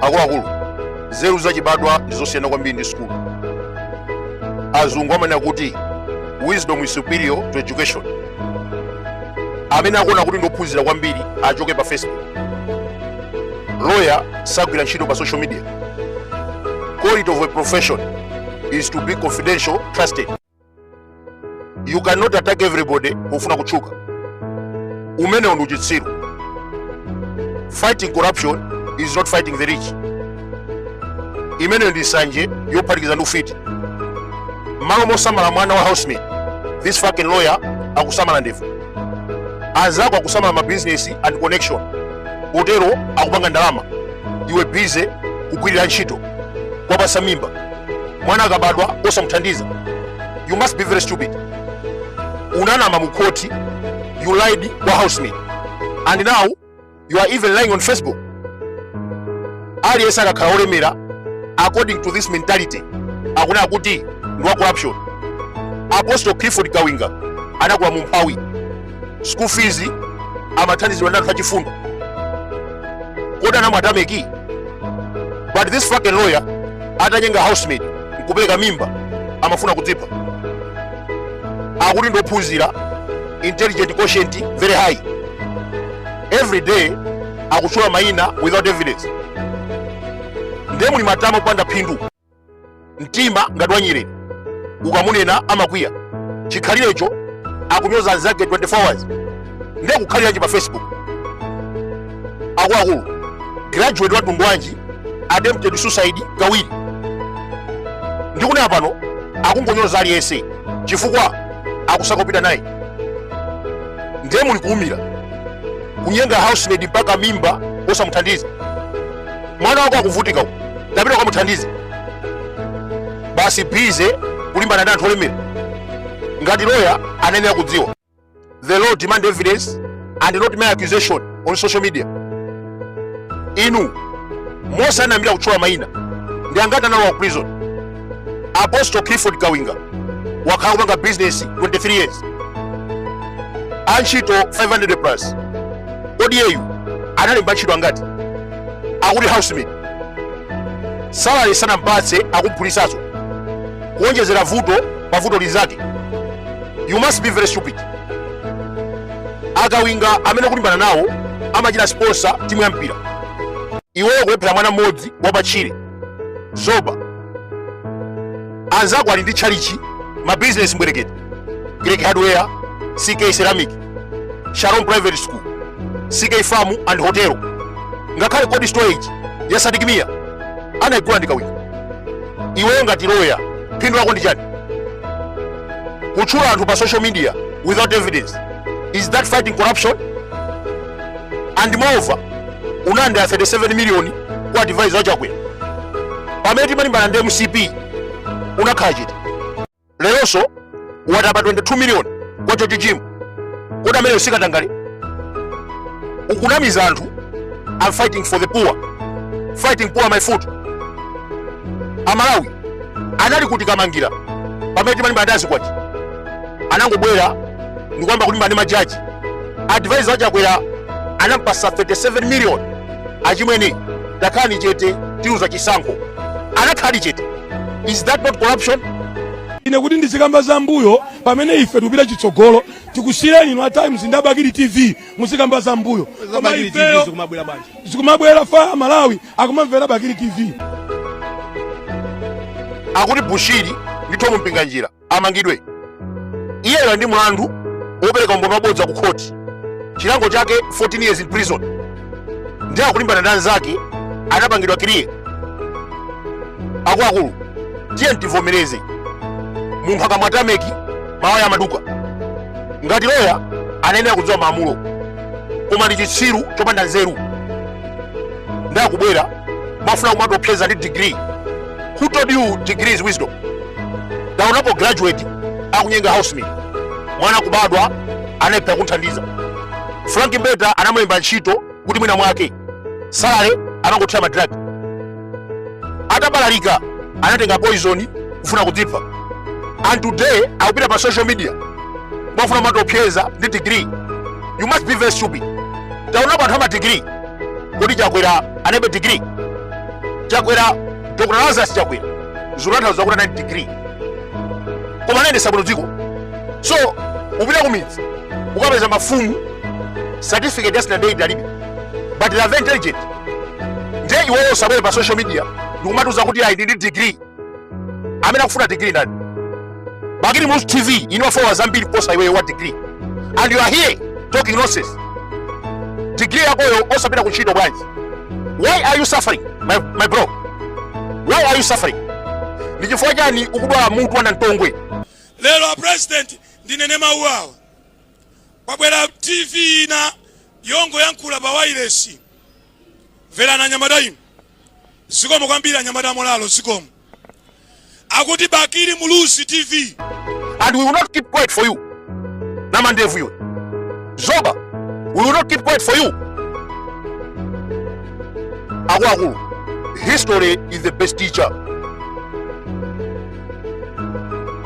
akuluakulu nzeru zachibadwa ndi zosiyana kwambiri ndi sukulu azungu amanena kuti wisdom is superior to education amene akuona kuti ndi ophunzira kwambiri achoke pa facebook lawyer sagwira ntchito pa social media quality of a profession is to be confidential trusted you cannot attack everybody pofuna kutchuka umenewo ndi uchitsiru fighting corruption is not fighting the rich imeneyo ndi nsanje yophatikiza ndi ufiti mmalo mosamala mwana wa housemaid this fucking lawyer akusamala ndevu anzako akusamala ma business and connection potero akupanga ndalama iwe bize kugwirira ntchito kuwapatsa mimba mwana akabadwa osamuthandiza you must be very stupid unanama mu khoti you lied kwa housemaid and now you are even lying on facebook aliyense akakhala olemera according to this mentality akunena kuti ndi wa corruption apostle clifford kawinga anakula mumphawi school fees amathandizidwa ndi anthu achifundo kodi anamwatameki but this fucking lawyer atanyenga housemaid nkupereka mimba amafuna kudzipha akuti ndi ophunzira intelligent quotient very high every day akutchula mayina without evidence ndiye muli matama opanda phindu mtima ngati wa nyerere ukamunena amakwiya chikhalirecho akunyoza anzake 24 hours ndiye kukhaliranji pa facebook akuluakulu graduate wa mtundu wanji attempted suicide kawiri ndikunena pano akungonyoza aliyense chifukwa akusakopita naye ndiye muli kulimbikira kunyenga housemaid mpaka mimba osamuthandiza mwana wako akuvutika uko tapita ukamuthandize basi bize kulimbana ndi anthu olemera ngati loya anayenera kudziwa the law demand evidence and not mere accusation on social media inu momwe munayambira kutchula mayina ndi angati analowa ku prison apostle clifford kawinga wakhala kupanga business 23 years antchito 500 plus kodi iyeyu analemba ntchito angati akuti housemaid salary sanampatse akumphulitsanso kuonjezera vuto pa vuto linzake you must be very stupid akawinga amene ukulimbana nawo amachita sponsor timu ya mpira iweyo kulephera mwana mmodzi wapatchire zoba anzako ali ndi tchalichi mabizinesi mbwerekete greek hardware ck ceramic sharon private school ck farm and hotel ngakhale cold storage ya sadikimiya anayigula ndi Kawinga iweyo ngati loya phindu lako ndi chani kutchula anthu pa social media without evidence is that fighting corruption and moreover unadya 37 million kwa advisor wa chakwera pamene timalimbana ndi mcp unakhala chete leronso watapa 22 miliyoni kwa Chochochimu kodi ameneyo si katangale ukunamiza anthu i'm fighting for the poor fighting poor my foot amalawi anali kuti kamangira pamene timalimbana ndi a Zikwanje anangobwera ndikuyamba kulimbana ndi majaji advisor wa Chakwera anampasa 37 miliyoni achimwene takhalani chete tiluza chisankho anakhala chete is that not corruption ine kuti ndizikamba za mbuyo pamene ife tikupita chitsogolo tikusiyeni inu a times ndi a Bakili TV muzikamba za mbuyo koma ifeyo zikumabwera apa amalawi akumamvera bakili tv akuti bushiri ndi Thom Mpinganjira amangidwe iyeyo ndi mlandu wopereka umboni wabodza ku khoti chilango chake 14 years in prison ndiye akulimbana ndi anzake anapangidwa clear akuluakulu tiyeni tivomereze munthu akamwa tameki mawaya amaduka ngati loya anayenera kudziwa malamulo koma ndi chitsiru chopanda nzeru ndiye akubwera kumafuna kumatiopseza ndi degree who told you degree is wisdom taonapo graduate akunyenga housemaid mwana kubadwa anayipha kunthandiza frank mbeta anamulemba ntchito kuti mwina mwake salary akangothira ma drug atabalalika anatenga poison kufuna kudzipha and today akupita pa social media kumafuna kumatiopseza ndi degree you must be very stupid taonapo anthu ama degree kodi chakwera analibe degree chakwera dr lazarus chakwera zikutanthauza kuti anali ndi degree koma anayendesa bwino dziko so ukapita kumidzi ukapeza mafumu certificate ya standard eight alibe but they are very intelligent nde iweyo usabwere pa social media ndikumatiuza kuti ayi ndili ndi degree amene akufuna degree ndani bakili muluzi tv ina wafowa zambiri kuposa iweyo wa degree and you are here talking nonsense degree yakoyo osapita ku ntchito bwanji why are you suffering my, my bro why are you suffering ndi chifukwa chani ukudwala mutu wanda mtongwe lero a president ndinene mau awa kwabwera tv ina yongoyankhula pa wailesi mverani anyamata inu zikomo kwambiri anyamata amolalo zikomo akuti bakili muluzi tv and we will not keep quiet for you namandevu iwe zoba we will not keep quiet for you akuluakulu history is the best teacher